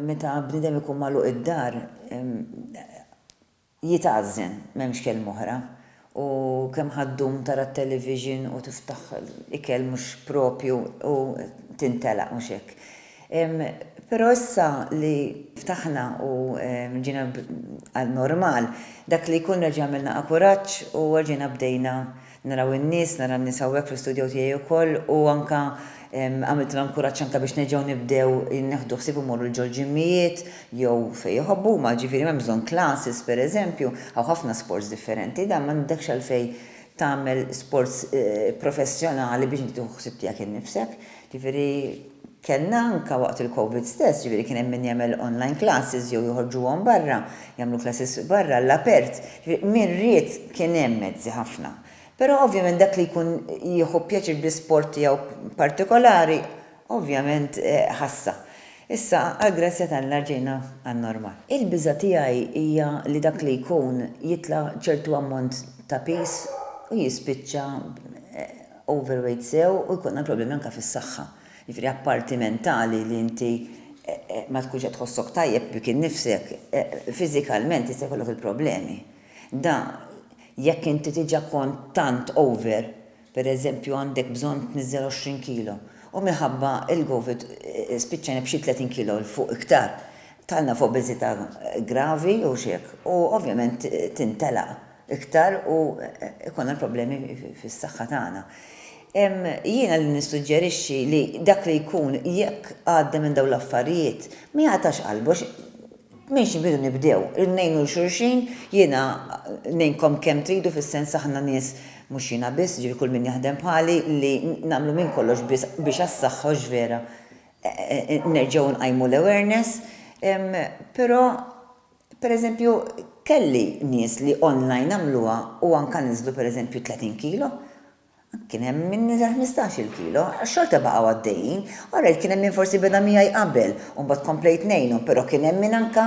Meta bniedem ikun magħluq id-dar, jitgħażżen, m'hemmx kelma oħra. U kemm ħa ddum tara t-television u tiftaħ ikel mhux proprju u tintelaq, mhux hekk? Però issa li ftaħna u ġejna għal normal, dak li jkun nerġa' għamilna akuraġġ u erġajna bdejna. Naraw in-nies, nara n-nies hawnhekk fl-istudjow tiegħi wkoll u anke għamiltilhom kuraġġ anke biex nerġgħu nibdew neħdu ħsieb immorru l-ġol ġimmijiet jew fejn iħobbu huma, ġifieri m'hemmx bżonn classes pereżempju, hawn ħafna sports differenti, dan m'għandekx għalfejn tagħmel sports professjonali biex inti tieħu ħsieb tiegħek innifsek, ġifieri, Kellna anke waqt il-Covid stess, ġifieri kien hemm min jagħmel online classes jew joħorġuhom barra, jagħmlu classes barra għall-apert, ġifieri min ried kien hemm mezzi ħafna. Però ovvjament dak li jkun jieħu pjaċir bl-isport tiegħu partikolari, ovvjament ħassha. Issa għall-grazzja t'Alla rġejna għan-normal. Il-biża' tiegħi hija li dak li jkun jitla' ċertu ammont ta' piż u jispiċċa overweight sew u jkollna problemi anke fis-saħħa. Jiġifieri apparti mentali li inti ma tkunx qed tħossok tajjeb bik innifsek, fiżikalment jista' jkollok il-problemi. Da jekk inti diġà kont tant over, pereżempju għandek bżonn tniżżel 20 kilo u minħabba l-Covid spiċċajna b'xi 30 kilo 'l fuq iktar, dħalna f'obeżità gravi jew xi hekk u ovvjament tintelaq. iktar u jkollna l-problemi fis-saħħa tagħna. Jiena li nissuġġerixxi li dak li jkun jekk għadda minn dawn l-affarijiet, ma jagħtax qalbu għax minn xi bidu nibdew, irridu ngħinu 'l xulxin, jiena ngħinkom kemm tridu fis-sens aħna nies, mhux jiena biss, jiġifieri kull min jaħdem bħali, li nagħmlu minn kollox biss biex għas-saħħa hux vera, nerġgħu nqajmu l-awareness, però Pereżempju, kelli nies li online għamluha u anke niżlu pereżempju 30 kilo. Kien hemm min niżel ħmistax-il kilo. Xorta baqgħu għaddejjin. Orajt, kien hemm min forsi beda miegħi qabel u mbagħad komplejt ngħinu, però kien hemm min anke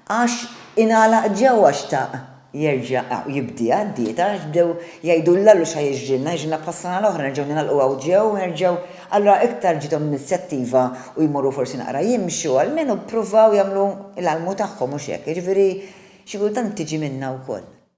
għax ingħalaq ġewwa xtaq jerġa' jibdieha d-dieta għax bdew jgħidu l-Alla x'ħa jiġrilna, jiġrilna bħas-sena l-oħra nerġgħu ningħalqu hawn ġew u nerġgħu Allura iktar ġiethom l-inizjattiva u jmorru forsi naqra jimxu, almenu ppruvaw jagħmlu l-almu tagħhom, hux hekk? Jiġifieri xi kultant tiġi minnha wkoll.